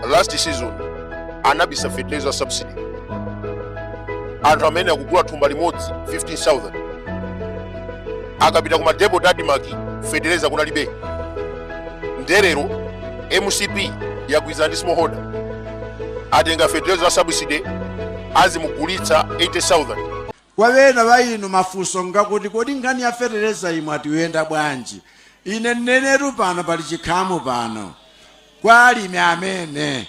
last season anabisa fetereza wa subsidy anthu amene akugula thumba limodzi 15000 akapita ku madepot a admarc fetereza kunalibe nde lero mcp yagwirizana ndi smallholder atenga fetereza wa subsidy azimugulitsa 80000 Kwa ena a inu mafunso ngakuti kodi nkhani ya fetereza iyi mwati yenda bwanji? Ine ndinenetu pano pali chikhamu pano cha alimi amene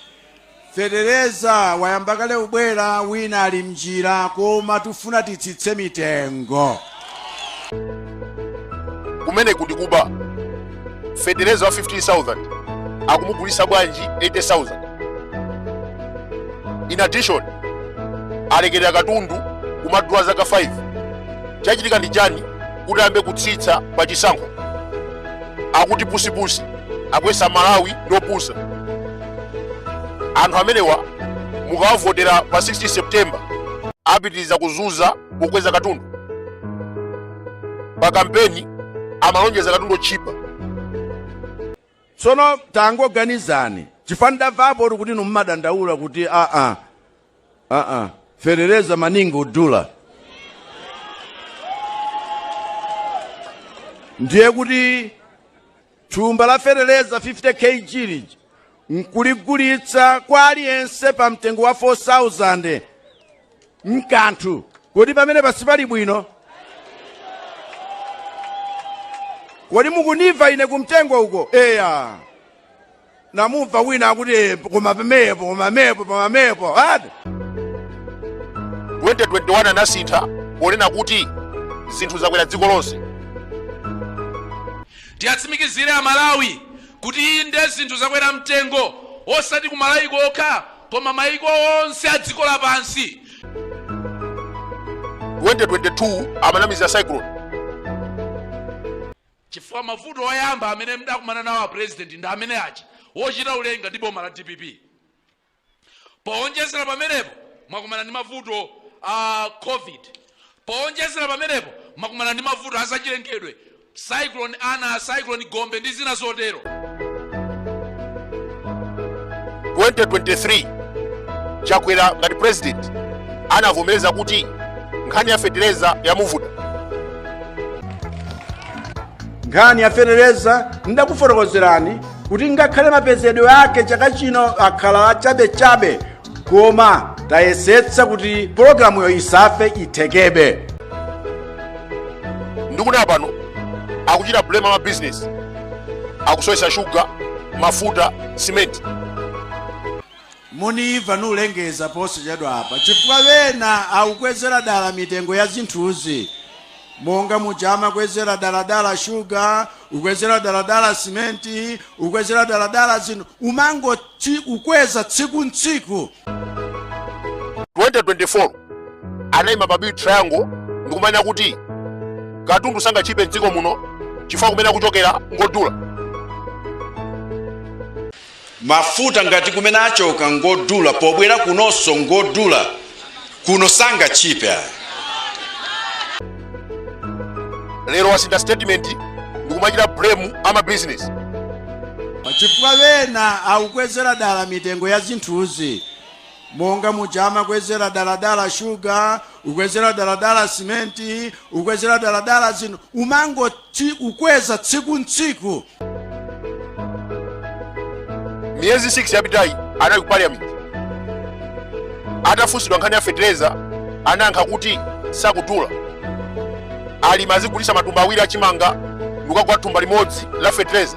fetereza wayamba kale kubwera wina ali mnjira koma tifuna titsitse mitengo. Kumeneku ndi kuba. fetereza wa 15000 akumugulitsa bwanji 80000 in addition alekerera katundu kumadula zaka 5 chachitika ndi chani kuti ayambe kutsitsa pa chisankho akuti pusipusi akuyesa amalawi ndopusa anthu amenewa mukawavotera pa 16 september apitiriza kuzuza kukweza katundu pa kampeni amalonjeza katundu otchipa tsono tangoganizani chifukwa ndamvapo kuti inu mmadandaula kuti aa aa fetereza waningi odula ndiye kuti thumba la feteleza 50 kg lija nkuligulitsa kwa aliyense pa mtengo wa 4000 nkanthu kodi pamenepa sipali bwino kodi mukundimva ine kumtengo uko eya ndamumva wina akuti "Eh, koma pamenepo koma pamenepo koma pamenepo 2021 anasintha ponena kuti zinthu zakwera dziko lonse tiyatsimikizire amalawi kuti inde zinthu zakwera mtengo osati kumalawi kokha koma maiko onse a dziko lapansi 2022 amanamizira cyclone chifukwa mavuto oyamba amene mudakumana nawo a president ndi amene aja ochita kulenga ndi boma la dpp powonjezera pamenepo mwakumana ndi mavuto a covid powonjezera pamenepo mwakumana ndi mavuto azachilengedwe cyclone ana cyclone gombe ndi zina zotero 2023 chakwera ngati president anavomereza kuti nkhani ya fetereza yamuvuta nkhani ya fetereza ndakufotokozerani kuti ngakhale mapezedwe ake chaka chino akhala achabechabe koma tayesetsa kuti pologalamuyo isafe ithekebe ndikudabwa pano akuchita blame ama business akusowetsa shuga mafuta simenti Mundimva ndikulengeza posachedwapa chifukwa wena aukwezera dala mitengo ya zinthuzi monga muja amakwezera daladala shuga kukwezera daladala simenti kukwezera daladala zinthu kumangoti kukweza tsiku ntsiku 2024 anayima pa big triangle ndikumanena kuti katundu sangachipe mdziko muno chifukwa kumene akuchokera ngodula mafuta ngati kumene achoka ngodula pobwera kunonso ngodula kuno sangachipe ayi lero wasintha statement ndikumachita blame ama business chifukwa wena akukwezera dala mitengo ya zinthuzi Monga muja amakwezera daladala sugar, kukwezera daladala cement, kukwezera daladala zinthu, kumangoti kukweza tsiku ntsiku. miyezi 6 yapitayi anali ku parliament atafunsidwa nkhani ya fetereza anayankha kuti sakudula alimi azigulitsa matumba awiri achimanga ndikukagula thumba limodzi la fetereza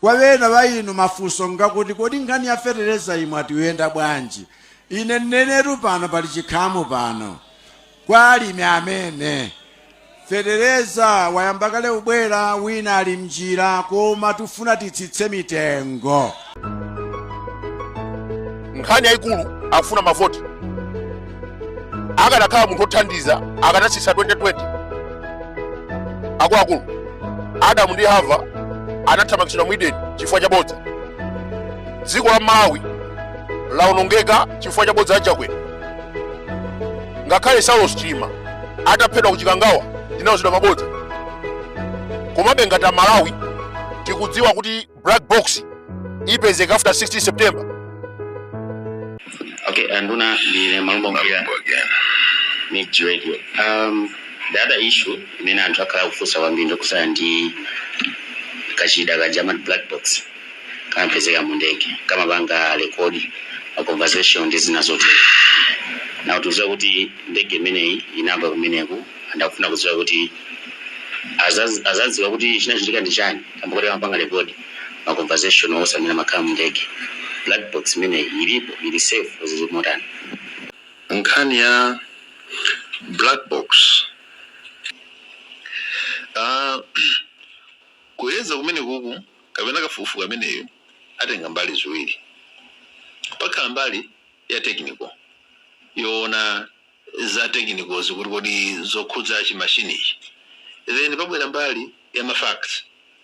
Kwa ena a inu mafunso ngakuti kodi nkhani ya fetereza iyi mwati iyenda bwanji? Ine ndinenetu pano pali chinamu pano kwa alimi amene fetereza wayamba kale kubwera wina ali mnjira koma tifuna titsitse mitengo. Nkhani yayikulu akufuna mavoti. akanakhala munthu othandiza akanatsitsa 2020 akuluakulu adamu ndi hava anathamangitsidwa mu edeni chifukwa cha bodza dziko la malawi lawonongeka chifukwa cha bodza la chakwera ngakhale saulos chilima ataphedwa ku chikangawa tinauzidwa mabodza komabe ngati amalawi tikudziwa kuti black box ipezeka after 16 september okay anduna ndine malumba mpira mix radio um, the other issue imene anthu akhala akufunsa kwambiri ndi zokhudzana ndi kachida kaja kama black box kamapezeka mu ndege kamapanga rekodi ma conversation ndi zina zotero nde tikudziwa kuti ndege imeneyi inagwa kumeneku anthu akufuna kudziwa kuti azazi- azadziwa kuti chinachitika ndi chani Kamba koti amapanga record ma conversation onse amene amakhala mu ndege. Black box imeneyi ilipo? Ili safe? zili motani? Nkhani ya black box aah kuyeza kumenekuku kapena kafukufuku ameneyu atenga mbali ziwiri. Pakhala mbali ya technical yowona za technical zi, kuti kodi zokhudza chi machine ichi. Then pabwera mbali ya ma facts.